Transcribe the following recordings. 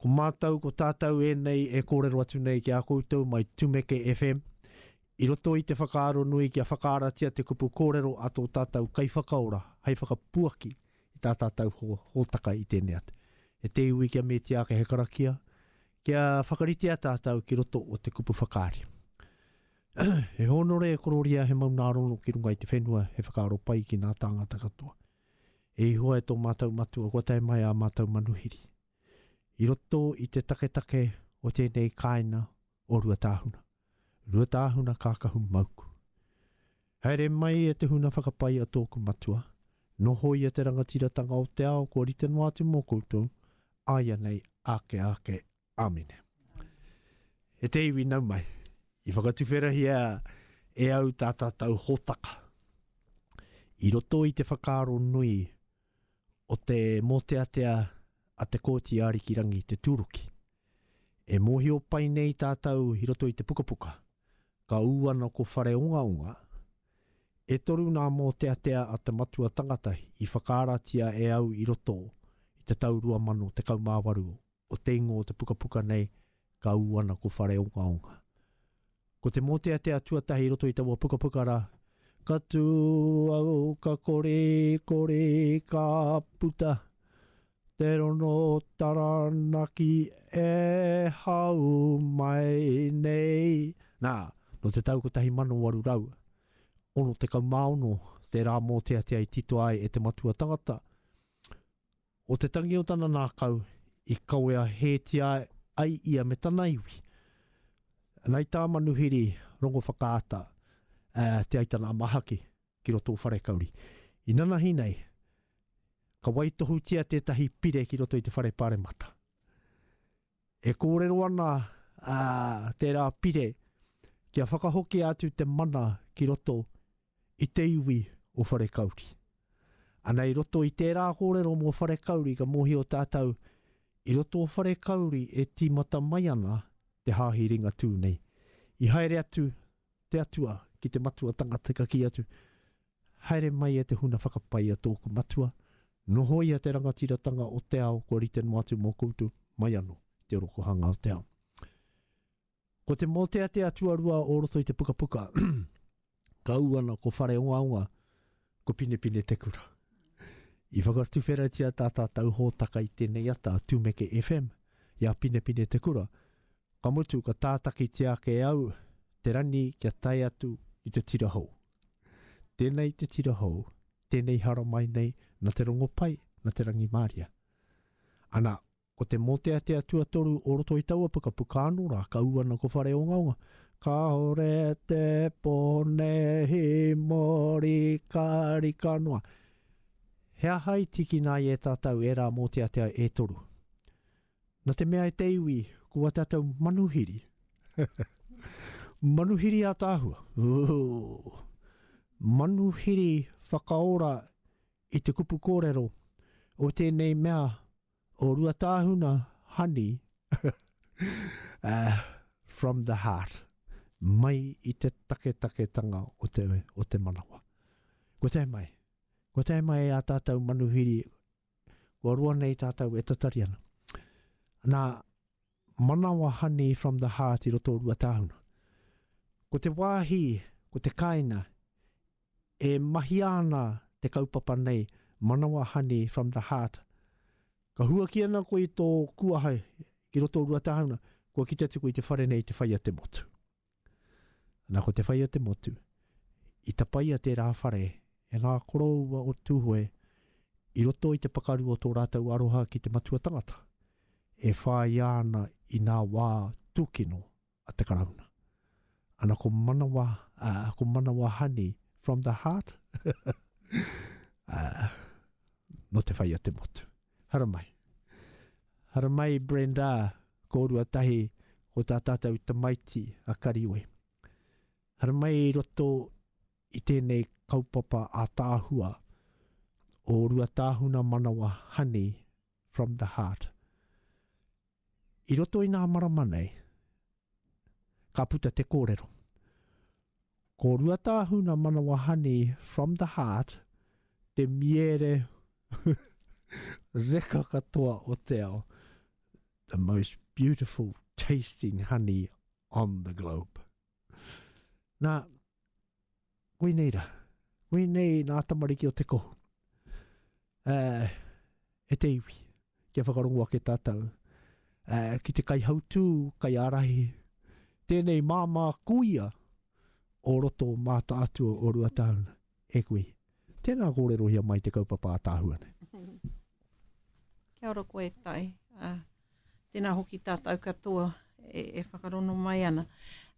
Ko mātou, ko tātou ēnei e kōrero atu nei ki a koutou mai Tumeke FM, i roto i te whakaaro nui kia whakaaratia te kupu kōrero a tō tātou Kaiwhakaora hei whakapuaki i tā tātou hōtaka i tēnei atu. E te iwi kia metia ake he karakia, kia whakaritea tātou ki roto o te kupu whakaari. he hōnore e kororia he maunārono ki runga i te whenua he whakaaro pai ki nā tāngata katoa. E Ihoa e tō mātou matua kua tae mai ā mātou manuhiri. i roto i te taketake o tēnei kāinga o Ruatāhuna. Ruatāhuna kākahu mauku. Haere mai e te huna whakapae a tōku matua, nohoia te rangatiratanga o te ao kua rite noa atu mō koutou, āianei āke āke. Āmine. E te iwi nau mai, i whakatuwherahia e au tā tātou hōtaka. I roto i te whakaaro nui o te mōteatea a Te Kooti Ārikirangi Te Tūruki. E mōhio pai nei tātou i roto i te pukapuka, ka ū ana ko Whareongaonga, e toru nā mōteatea a te matua tangata i whakaaratia e au i roto i te tau 2018. o te ingoa o te pukapuka nei, ka ū ana ko Whareongaonga. Ko te mōteatea tuatahi i roto i taua pukapuka rā, Ka tū au, ka kore, kore, ka puta, te rono taranaki e hau mai nei. Nā, nō te tau 1866 te rā mōteatea i titoa ai e te matua tangata, O te tangi o tana nākau i kawea hētia ai ia me tana iwi. Nai tā Manuhiri Rongowhakaata Te Aitana-a-Mahaki ki roto o Wharekauri. I nanahi nei, ka waitohutia tētahi pire ki roto i te Whare Paremata. E kōrero ana a tērā pire kia whakahokia atu te mana ki roto i te iwi o Wharekauri. Ana i roto i tērā kōrero mō Wharekauri ka mōhio tātou i roto o Wharekauri e tīmata mai ana te Hāhi Ringatū nei. I haere atu te Atua ki te matua tangata ka kī atu, Haere mai e te huna whakapae i a tōku matua, noho ia te rangatiratanga o te ao kua rite noa atu mō koutou, mai anō i te orokohanga o te ao. Ko te mōteatea tuarua o roto i te pukapuka, ka ū ana ko Whareongaonga, ko Pinepine te kura. I whakatuwheratia tā tātou hōtaka i tēnei ata a Tumeke FM i a Pinepine te kura, ka mutu ka tātakitia ake au te rani kia tae atu i te tira hou. Tēnei te tira hou, tēnei haramai nei na te rongopai, na te rangimāria. Ana, ko te mōteatea tuatoru o roto i taua pukapuka anō rā, ka ū ana ko Whareongaonga, Kāore te pō nehi mōrika rika noa. He aha i tikina ai e tātou ērā mōteatea e toru? Na te mea e te iwi, ko a tatou manuhiri. manuhiri ataahua. Ooh. Manuhiri whakaora i te kupu korero o tenei mea o Ruataahuna, honey. uh, from the heart. Mai i te taketaketanga o te, o te manawa. Ko tae mai. Ko tae mai a tatou manuhiri kua roa nei tātou e tatari ana. Nā, manawa honey from the heart i roto o Ruatāhuna. Ko te wāhi, ko te kāinga, e mahia ana te kaupapa nei, manawa honey from the heart. Ka huaki ana koe i tō kuaha ki roto o Ruatāhuna, kua kitea te koe i te whare nei te whai a te motu. Ana ko te whai o te motu, i tapaia tērā whare e ngā koroua o Tūhoe i roto i te pakaru o tō rātou aroha ki te matua tangata, e whāia ana i nā wā tūkino a te Karauna. Ana ko manawa, uh, ko manawa honey from the heart, uh, no te whai o te motu. Haramai. Haramai Brenda, kōrua tahi ko tā tātou tamaiti a Karioi. Haramai i roto i tēnei kaupapa a Tāhua o Ruatāhuna Manawa Honey from the Heart. I roto i ngā marama nei, ka puta te kōrero. Ko Ruatāhuna Manawahani from the heart te miere reka katoa o te ao. The most beautiful tasting honey on the globe. Nā, Koinei ra. Koinei nā tamariki o te kohu. Uh, e te iwi, kia whakarongo ake tātou. Uh, ki te kai hautū, kai ārahi, tēnei māmā kuia o roto māta atua o Ruatauna, e kui. Tēnā kōrerohia mai te kaupapa a Tāhuane. Kia ora koe, Tai. Uh, Tēnā hoki tātou katoa e whakarono mai ana.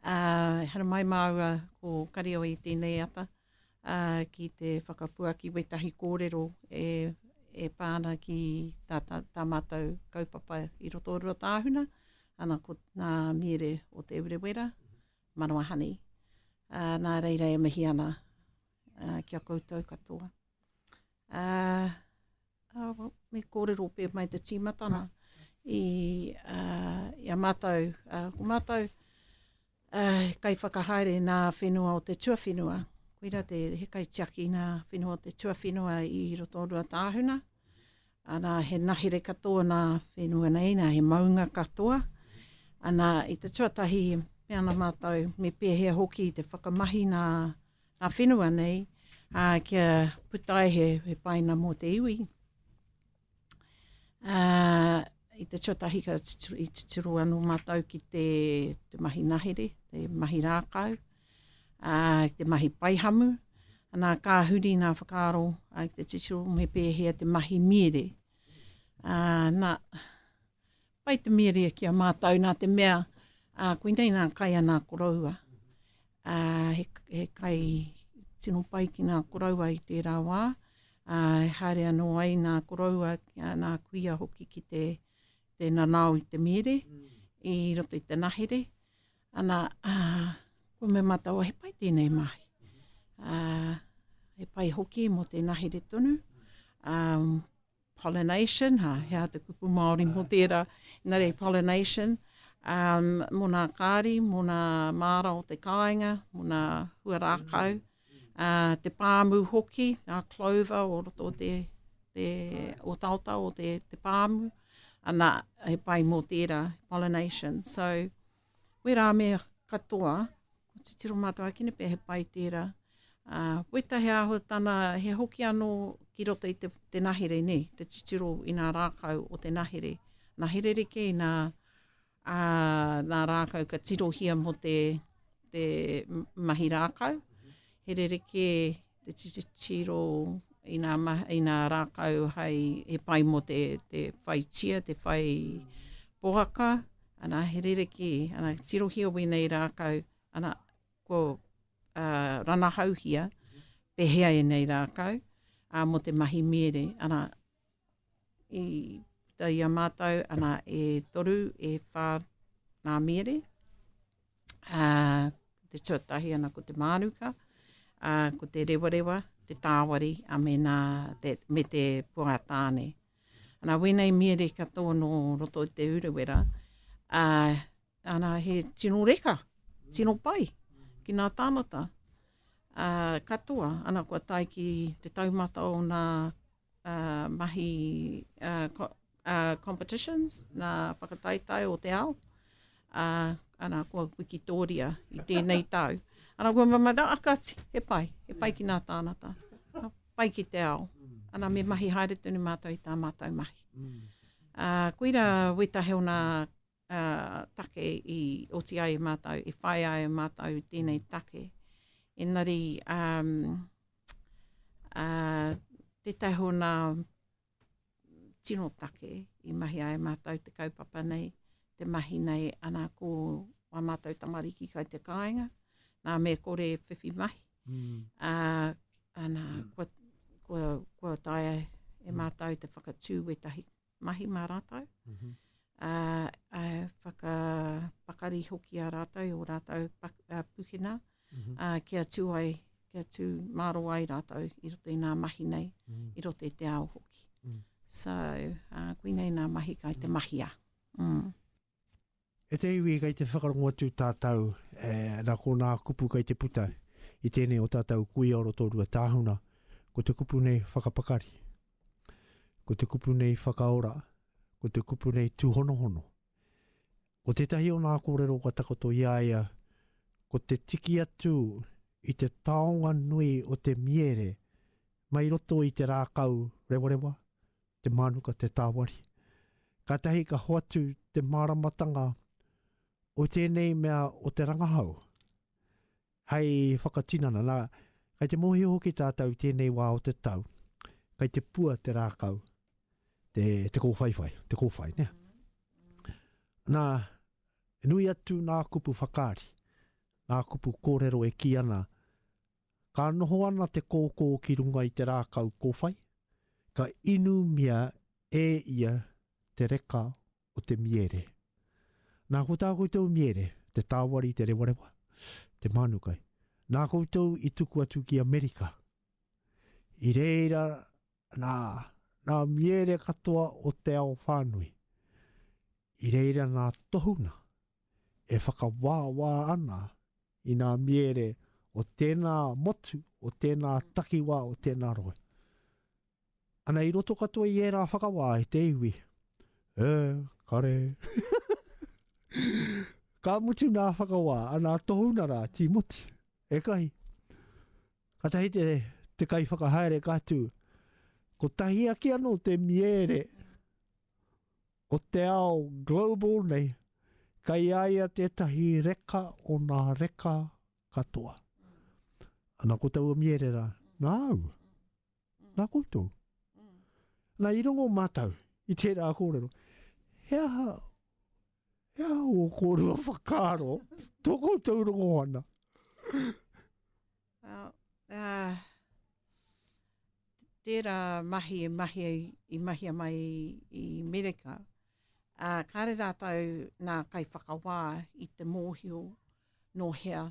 Ehara mai māua ko Karioi i tēnei ata ki te whakapuaki wētahi kōrero e e pā ana ki tā, tā, tā mātou kaupapa i roto o Ruatāhuna, ana ko nā Miere o Te Urewera, Manawa Honey. Uh, nā reira e mihi ana uh, ki a koutou katoa. Uh, Me kōrero pē mai te tīmatanga i a mātou, ko mātou kai whakahaere nā whenua o te tuawhenua, koira te he kai tiaki nā whenua o te tuawhenua i roto o Ruatāhuna, ana he nahere katoa nā whenua nei, nā he maunga katoa, ana i te tuatahi me ana mātou, me pēhea hoki te whakamahi nā Ngā whenua nei, ā, kia puta ai he paina mō te iwi. Ā, i te tuatahi ka tuturu, i tuturu anō mātou ki te, te mahi nahere, te mahi rākau, ā, ki te mahi paihamu, anā, ka huri ngā whakaaro ā, ki te tuturu me pēhea te mahi mīere. Ā, nā, Pai te mīria ki a mātou nā te mea, ā, koinei nā kai ana koroua. Ā, he, he kai tino pai ki nā koroua i tērā wā, ā, e haere anō ai nā koroua, nā kuia hoki ki te, te nanao i te mīri, i roto i te nahere. Ana, ā, kua mea mātou, he pai tēnei mahi. Ā, he pai hoki mō te nahere tonu, ā, Pollination, ha, he aha te kupu Māori mō tērā, engari pollination, um, mō nā kāri, mō nā māra o te kāinga, mō nā hua rākau, uh, te pāmu hoki, nā clover o roto te, te o taota o te, te pāmu, ana he pai mō tērā, pollination. So, wērā me katoa, Ko titiro mātou ake nei pea he pai tērā. Weta he āhuatana, he hoki anō ki roto i te nahere nei, te titiro i ngā rākau o te nahere. Nahere reke i ngā rākau ka tirohia mō te mahi rākau, he rerekē. te titiro i nā, i nā rākau hai he pai mō te, te whai tia, te whai poaka, ana he rereki, ana tirohia wēnei rākau, ana ko uh, ranahauhia, pehea e nei rākau, uh, mō te mahi miere, ana i puta i a mātou, ana e toru, e whā nā miere, ā, te tuatahi ana ko te mānuka, ā, ko te rewarewa, te tāwari, a me nā, te, me te puātāne. Ana wēnei miere katoa nō roto i te Urewera, ā, ana he tino reka, tino pai ki nā tāngata, ā, katoa, ana kua tae ki te taumata o nā uh, mahi uh, co uh, competitions, nā whakataetae o te ao. Uh, ana, kua wikitoria i tēnei tau. Ana, kua mamara, akati, he pai, he pai ki nā tānata. Pai ki te ao. Ana, me mahi haere tonu mātou i tā mātou mahi. Uh, koira wetahe o nā take i oti ai e mātou, i whai ai e mātou tēnei take. Engari, um, uh, tētahi o nā tino take i mahi ai e mātou te kaupapa nei, te mahi nei, ana ko wā mātou tamariki kai te kāinga, nā me kore whiwhi mahi. Mm. Uh, ana, mm. kua, kua, kua taia e mātou te whakatū wetahi mahi mā rātou. Mm -hmm. uh, uh, whakapakari hoki a rātou i o rātou pak, uh, pukina mm -hmm. uh, kia tū ai, kia tū māro ai rātou i roto i nā mahi nei, mm -hmm. i roto i te ao hoki. Mm -hmm. So, uh, kui nei nā mahi kai te mm. mahia. Mm. E te iwi kei te whakarongo atu tātou, e, nā kōnā kupu kei te puta i tēnei o tātou kuia o roto rua tāhuna, ko te kupu nei whakapakari, ko te kupu nei whakaora, ko te kupu nei tūhonohono. Ko tētahi o nā kōrero kua takoto i a ia, ko te tiki atu i te taonga nui o te miere mai roto i te rākau rewarewa, te mānuka, te tāwari. Kātahi ka hoatu te māramatanga o tēnei mea o te rangahau hei whakatinana. Nā, kai te mōhio hoki tātou tēnei wā o te tau, kai te pua te rākau, te, te kōwhaiwhai, te kōwhai, nea. Nā, nui atu nā kupu whakaari, nā kupu kōrero e ki ana, Ka noho ana te kōkō ki runga i te rākau kōwhai, ka inumia e ia te reka o te miere. Nā ko tā koutou miere, te tāwari, te rewarewa, te mānukai. Nā koutou i tuku atu ki Amerika. I reira nā, nā miere katoa o te ao whānui. I reira nā tohunga e whakawāwā ana I nā miere o tēnā motu, o tēnā takiwā, o tēnā rohe. Ana i roto katoa i ērā whakawā e te iwi. E, kare. Ka mutu nā whakawā, ana tohuna rā, Tīmoti. E kahi. Ka tahi te, te kai whakahaere ka tū. Ko tahi ake anō te miere. Ko te ao global nei, kei a ia tētahi reka o nā reka katoa. Ana ko taua mierera, nā au, nā koutou. Nā i rongo mātou i tērā kōrero, he aha, he aha o kōrua whakaro, tō koutou rongo ana. Well, uh, tērā mahi e mahi, i mahia mai i Mereka, uh, kāre rātou nā kai whakawā i te mōhio no hea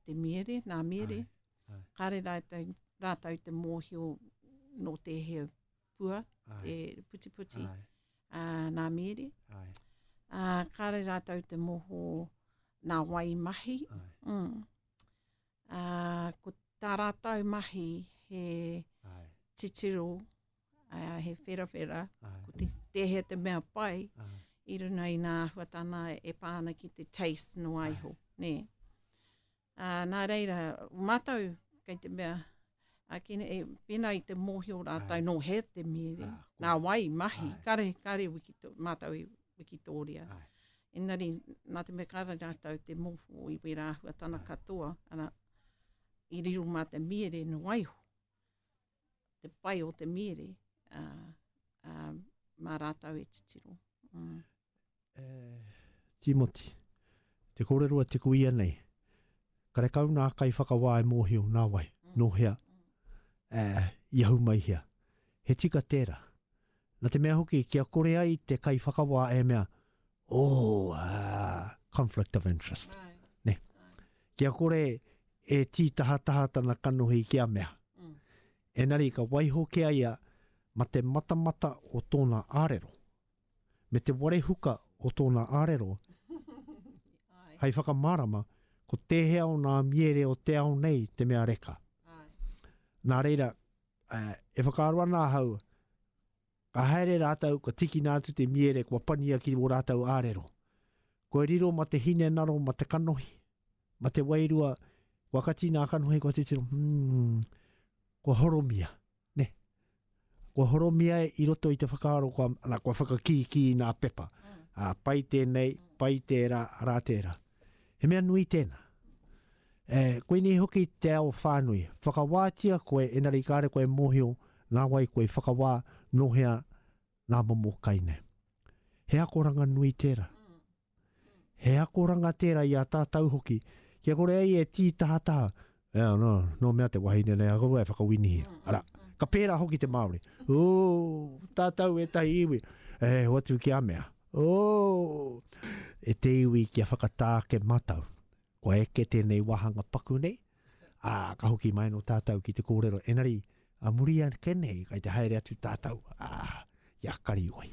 te miere, nā miere. Ai, ai. Kāre rātou, rātou te mōhio no te he pua, ai. te putiputi, ai. Uh, nā miere. Ai. Uh, kāre rātou te moho nā wai mahi. Ai. Mm. Uh, ko tā rātou mahi he Ai. titiro, uh, he wherawhera, Ai. ko te, te he te mea pai Ai. i runa i nā huatana e pāna ki te taste no aiho. Ai. Nē. Uh, nā reira, mātou kei te mea a ki nei, pēnā i te mōhio rātou no he te mīri, ah, nā wai mahi, Ai. kare, kare wiki tō, mātou i wiki tōria. Ai. Engari, nā te me kāra rātou te mōhio i wērā hua tana Ai. katoa, ana, i riro mā te mīri no waiho, te pai o te mīri, uh, uh, mā rātou e titiro. Mm. E Timoti, te kōrero a Tiku ianei, karekau nā kaiwhakawā e mōhio nā wai, nō hea, ā, i ahu mai hea. He tika tērā. Nā te mea hoki, kia kore ai te kaiwhakawā e mea, Oh, ah, conflict of interest. Right. Ne. Kia kore e tī tahataha tana kanohi ki a mea. Mm. Enari, ka waiho ki a ia ma te matamata o tōna arero. me te warehuka o tōna arero hei whakamārama ko tēhea o nā miere o te ao nei te mea reka. Nā reira, uh, e whakaaro ana ahau, ka haere rātou, ka tikina atu te miere, kua pania ki wō rātou ārero. Kua riro ma te hine naro, ma te kanohi, ma te wairua, kua kati nā kanohi, kua titiro, hmm, kua horomia. Ne. Kua horomia i roto i te whakaaro kua, ana, kua whakakīkī i nā pepa. Ā, pai tēnei, pai tērā, arā tērā. He mea nui tēnā. E, koinei hoki te ao whānui. Whakawātia koe, engari kāre koe e mōhio nā wai koe i whakawā, nō hea nā momo kai nei. He akoranga nui tērā. He akoranga tērā i a tātou hoki, kia kore ai e tī tahataha, e anō, nō mea te wahine nei a korua e whakawinihia. Arā, ka pērā hoki te Māori. Ū, tātou ētahi iwi, e hoatu ki a mea. Ū, e te iwi kia whakatā ake mātou. Kua eke tēnei wāhanga paku nei, ā, ka hoki mai anō tātou ki te kōrero. Engari, a muri ake nei, kai te haere atu tātou, ā, i a Karioi.